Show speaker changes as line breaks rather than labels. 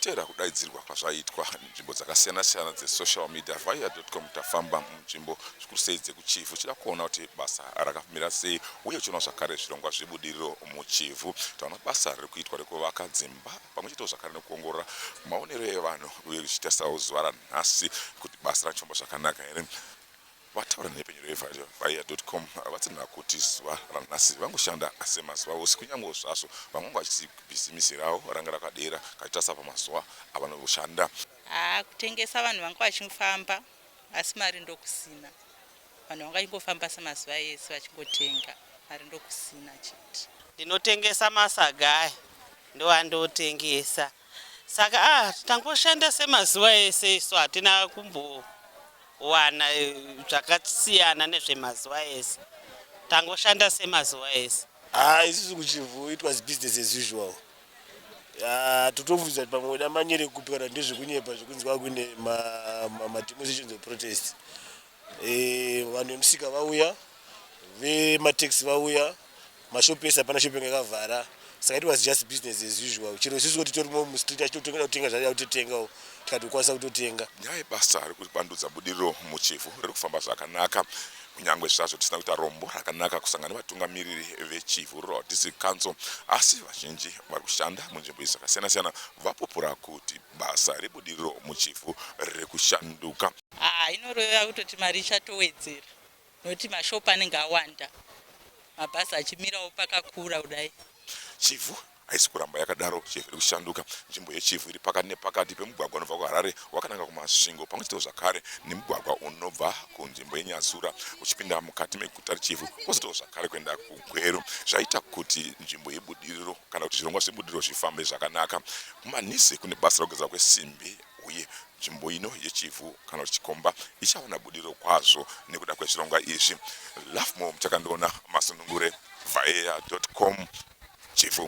tichiteera kudaidzirwa kwazvaitwa nzvimbo dzakasiyana-siyana dzesocial media via com tafamba munzvimbo zvikuru sei dzekuchivhu tichida kuona kuti basa rakamira sei uye tichiona zvakare zvirongwa zvebudiriro muchivhu taona basa riri kuitwa rekuvaka dzimba pamwe chete zvakare nekuongorora maonero evanhu uye zvichiita sauzuva ranha nhasi kuti basa rachifamba zvakanaka here vataura nepenyero yevhaiya com vatsinhira kuti zuva ranhasi vangoshanda semazuva ose kunyangewo zvazvo vamwe vachiti bhizimisi ravo ranga rakadera kachitarisa pamazuva avanoshanda haa kutengesa
vanhu vanga vachifamba asi mari ndokusina vanhu vanga vachingofamba semazuva ese vachingotenga mari ndokusina chete ndinotengesa
masaga aya ndoandotengesa saka ah tangoshanda semazuva ese isu hatina kumbowana eh, zvakasiyana nezvemazuva ese tangoshanda semazuva ese ah isusu kuchivhu
it was business as usual ah, totobvunza kuti pamwe weda manyere kupi kana ndezvekunyepa zvekunzi kwakuine mademonstrations ma, ma of protest Eh, vanhu vemusika vauya vemataxi vauya mashop ese hapana shop yakavhara saka it was just business as usual chero isusu kuti torimo mustreet achitotoda kutenga zvaida kutotengawo tikatokwanisa kutotenga nyaya yebasa riri
kupandudza budiriro muchivhu riri kufamba zvakanaka kunyange zvazvo tisina kuita rombo rakanaka kusangana nevatungamiriri vechivhu rural district council asi vazhinji vari kushanda munzvimbo izi zvakasiyana-siyana vapupura kuti basa rebudiriro muChivhu riri kushanduka. Haa inoreva
kutoti mari ichatowedzera nokuti mashop anenge awanda, mabhazi achimirawo pakakura kudai. Chivhu
haisi kuramba yakadaro, Chivhu iri kushanduka. Nzvimbo yeChivhu iri pakati nepakati pemugwagwa unobva kuHarare wakananga kuMasvingo pamwe chetewo zvakare nemugwagwa unobva kunzvimbo yeNyasura uchipinda mukati meguta reChivhu kozotiwo zvakare kuenda kuGweru zvaita kuti nzvimbo yebudiriro kana kuti zvirongwa zvebudiriro zvifambe zvakanaka. KuManhize kune basa rekugadzirwa kwesimbi uye nzvimbo ino yechivhu kana kuti chikomba ichawana budiriro kwazvo nekuda kwezvirongwa izvi. Lovemore Muchakandiona, Masunungure, Vaea.com, Chivhu.